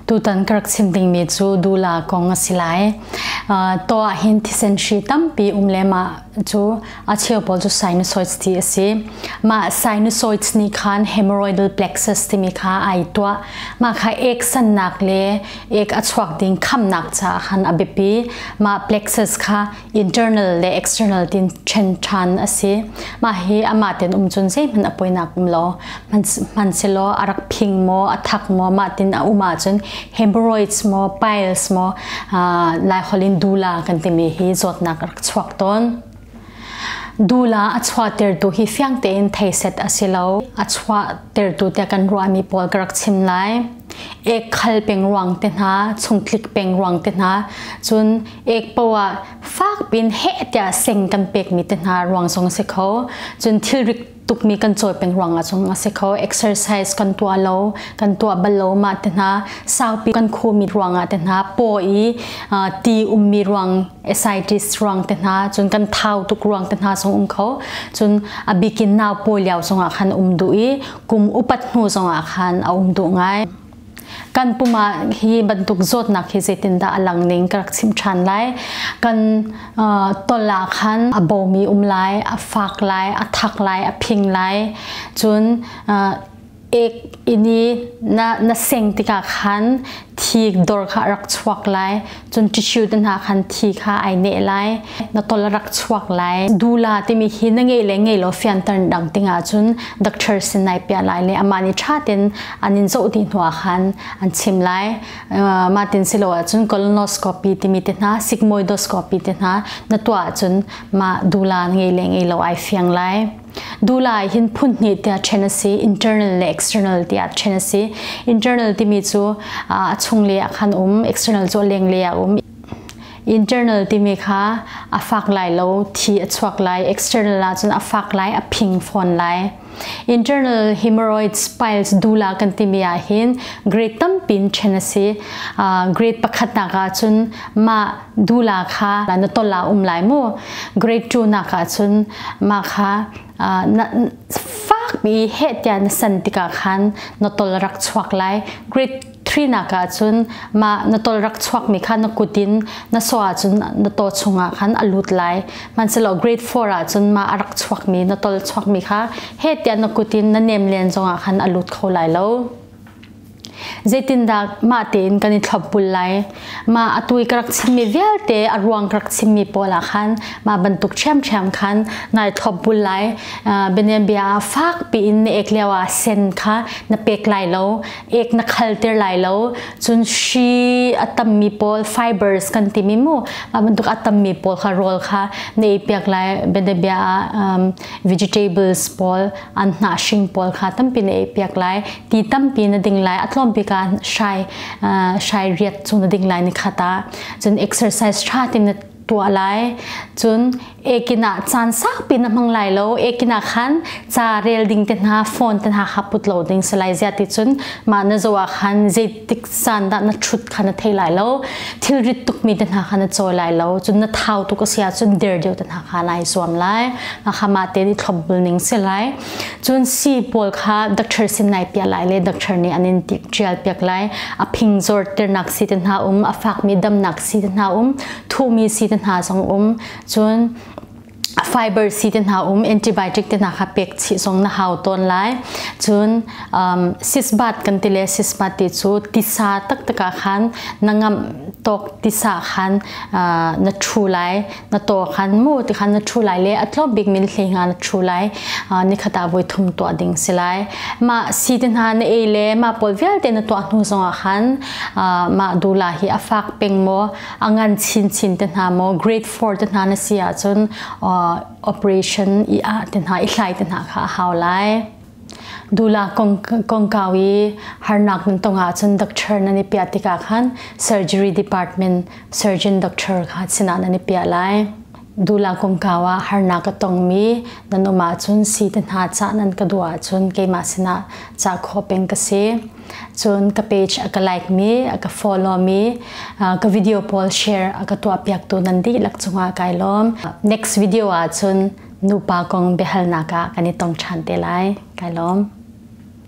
Tutan ka rak chim dingmi cu dula kong a si lai. Uh, to ah hin thisen hri tampi um le mah cu a cheu pawl cu sinusoids ti a si. Mah sinusoids nih khan hemorrhoidal plexus timi kha ai tuah. Mah kha ek sannak le ek a chuak ding khamnak caah khan a biapi. Mah plexus kha internal le external tin ṭhen ṭhan a si. Mah hi amah ten um cun zeihmanh a poinak um lo. Hman selaw a rak phing maw, a thak maw, mah tin a um ah cun hemorrhoids maw, piles maw, lai holh in dula kan timi hi zawtnak a rak chuak tawn. Dula a chua tertu hi fiang tein theiset a si lo. A chua tertu te kan ruahmi pawl ka rak chim lai. Ek khal peng ruang te hna, chung tlik peng ruang te hna, cun ek poah fak pin he tia seng kan pek mi te hna ruang song si kho cun thil rik tuk mi kan chawi pen ruang a chung a si kho exercise kan tua lo kan tua bal lo ma te hna saupi kan khu mi ruang a te hna po i ti um mi ruang asitis ruang te hna cun kan thau tuk ruang te hna song um kho cun abikin naw po liao song ah khan um du i kum upat hnu song ah khan a um du ngai kan pum ah hi bantuk zawtnak hi zeitindah a lang ning ka rak chim ṭhan lai kan tol ah khan a bawmi um lai a fak lai a thak lai a phing lai cun ek ini na na seng tikah khan thik dor kha rak chuak lai cun tissue te hna khan thi kha ai ne lai na tol rak chuak lai dula timi hi na ngei le ngei lo fianter dang ting ah cun doctor sin nai pia lai le ama ni tha ten an in zo ti hnuah khan an chim lai ma tin silo ah cun colonoscopy timi te hna sigmoidoscopy te hna na tuah cun ma dula ngei le ngei lo ai fiang lai Dula ah hin phun hnih tiah ṭhen a si, internal le external tiah ṭhen a si. Internal timi cu a chunglei ah khan um, external cu a lenglei ah um. Internal timi kha a fak lai lo, thi a chuak lai. External ahcun a fak lai, a phing fawn lai. Internal hemorrhoids piles dula kan timi ahhin grade tampi in ṭhen a si. Grade pakhatnak ahcun mah dula kha na ton la um lai mu grade 2 nak ah cun ma kha na fak mi he tia na san tikah khan na tol rak chuak lai grade 3 nak ah cun ma na tol rak chuak mi kha na kutin na so ah cun na to chungah khan a lut lai man selo grade 4 ah cun ma arak chuak mi na tol chuak mi kha he tia na kutin na nem len zongah khan a lut kho lai lo Zeitindah mah tein kan i thlop bul lai? Mah atu i ka rak chimmi vialte a ruang ka rak chimmi pawl ah khan mah bantuk ṭhiamṭhiam khan nai thlop bul lai. Bianabia ah fak piin na ek lio ah sen kha na pek lai lo, ek na khalter lai lo. Cun hri a tammi pawl fibers kan timi mu, mah bantuk a tammi pawl kha rawl kha na ei piak lai. Bianabia ah vegetable pawl, an hnahhring pawl kha tampi na ei piak lai. mi tampi na ding lai a tlawm bik ah shai shai riat cu na ding lai ni khata cun exercise tha tin na tua lai cun ekin ah caan sakpi na hmang lai lo ekin ah khan ca rel ding te hna phone te hna kha put lo ding se lai zia ti cun mah na zo ah khan zei tiksan dah na thut kha na thei lai lo thilrit tukmi te hna kha na chawi lai lo cun na thau tuk a si ahcun der deuh te hna kha nai zuam lai mah ma te ni thlop bul ning si lai cun si pawl kha doctor sin nai pia lai le doctor nih anin tik tial piak lai a phing zor ternak si te hna um a fak mi damnak si te hna um thumi si te hna zong um cun fiber C te hna um antibiotic te hna kha pek chi zong na hau tawn lai cun um, sisbat kan ti le sisbat ti cu tisa taktak ah khan na ngam tok tisa khan uh, na thu lai na to khan mu ti khan na thu lai le atlop bik min hlei nga na thu lai uh, ni khata voi thum tua ding si lai ma si te hna na ei le ma pol vialte na tua hnu zong ah khan uh, ma dula hi a fak peng mo a ngan chinchin te hna maw grade 4 te hna na si ahcun operation i ah te hna i thlai te hna kha a hau lai dula kongkau i harnak nan tong ahcun doctor nan i piah tikah khan surgery department surgeon doctor kha sinah nan i piah lai Dula kumkau ah harnak ka tongmi nan um ahcun si te hna cah nan ka duh ahcun keimah sinah cah khawh peng ka si. Cun ka page a ka like-mi, a ka follow-mi, ka video pawl share a ka tuahpiaktu nan dihlak cungah kai lawm. Next video ahcun nupa kong biahalnak ah kan i tong ṭhan te lai. Kai lawm.